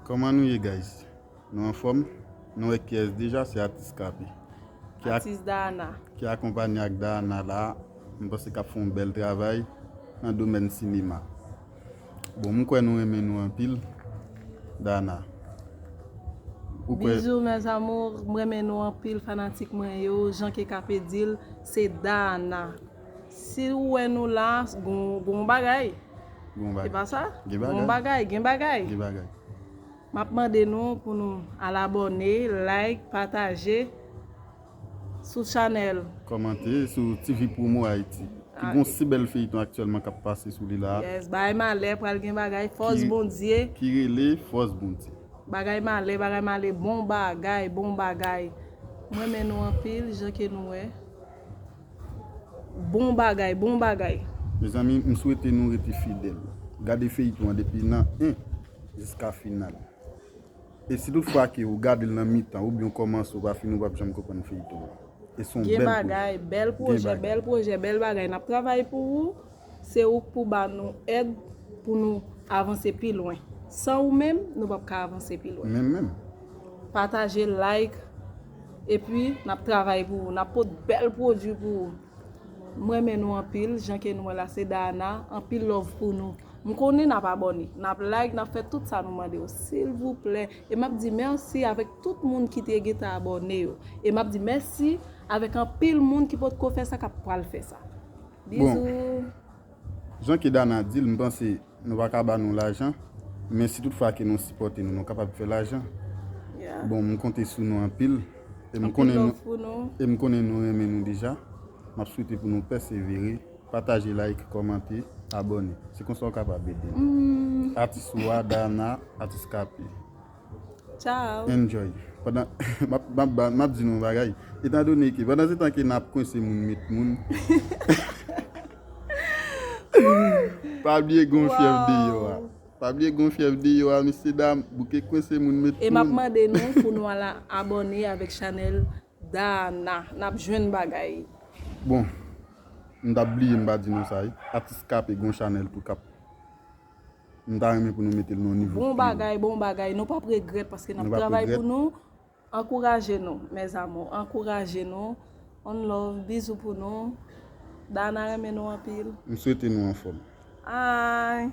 Koman nou ye guys nou anfom nou wè kiyes deja se atis kapi ki akonpanye ak daana la m panse kap fon bel travay nan domèn sinema bon m kwè nou renmen nou anpil daana ou kwè Bizou mes amours m renmen nou anpil fanatik mwen yo jan ke kape dil se daana. Si ou wè nou la, gon bagay. Gon bagay. Se pa sa? Gen bagay. Gon bagay, gen bagay. Gen bagay. M ap mande nou pou nou al abòne, like, pataje sou chanèl. Kòmante sou TV Promo Haiti. Ki gon si bèl feyton aktyèlman k ap pase sou li la. Yes, Bagay Malè pral gen bagay, Fòs Bondye. Ki rele Fòs Bondye. Bagay Malè, Bagay Malè, bon bagay, bon bagay. M renmen nou anpil jan ke nou wè. Bon bagay bon bagay. Mezanmi m swete nou rete fidèl gade feyiton an depi nan 1 jiska final e si tout fwa ke ou gadel nan mitan oubyen ou kòmanse ou pa fini ou pap janm konprann feyiton an e son bèl pwojè. Gen bagay bèl pwojè bèl pwojè bèl bagay nap travay pou ou se ouk pou ba nou èd pou nou avanse pi lwen san ou menm nou pap ka avanse pi lwen menm menm. Pataje like. Epi nap travay pou ou nap pot bèl pwodwi pou ou m renmen nou anpil jan ke nou wè la se Dahana anpil love pou nou m konnen nap abòne nap like nap fè tout sa nou mande yo silvouplè e map di mèsi avèk tout moun ki te gentan abòne yo e map di mèsi avèk anpil moun ki potko fè sa kap pral fè sa bizou. Jan ke Dana di l, m panse nou pa ka ba nou lajan, men si tout fwa ke nou sipòte nou, nou kapab fè lajan. Bon, m konte sou nou anpil, e m konnen nou, e m konnen nou renmen nou deja. M ap swete pou nou pèsevere, pataje, like, kòmante, abòne. Se konsa ou kapab ede m. Atis ou a, Dana, Atis Kapi. Ciao. Enjoy. Pandan, map, map ba, map di nou yon bagay. Etan done ke, pandan se tan ke nap kwense moun, met moun, pa bliye gen yon fyèv deyò a. Pa bliye gen yon fyèv deyò a, mesye dam, bouke kwense moun, met moun. E map mande nou pou nou al abòne avèk chanèl Daana. Nap jwenn bagay. Bon, m tap bliye m pa di nou sa wi. Atis K-P gen yon chanèl tou kap. M ta renmen pou nou metel nan nivo Bon bagay bon bagay nou pap regrèt paske nap travay pou nou ankouraje nou mes amour ankouraje nou on love bizou pou nou Dana renmen nou anpil M swete nou anfom. Aayy.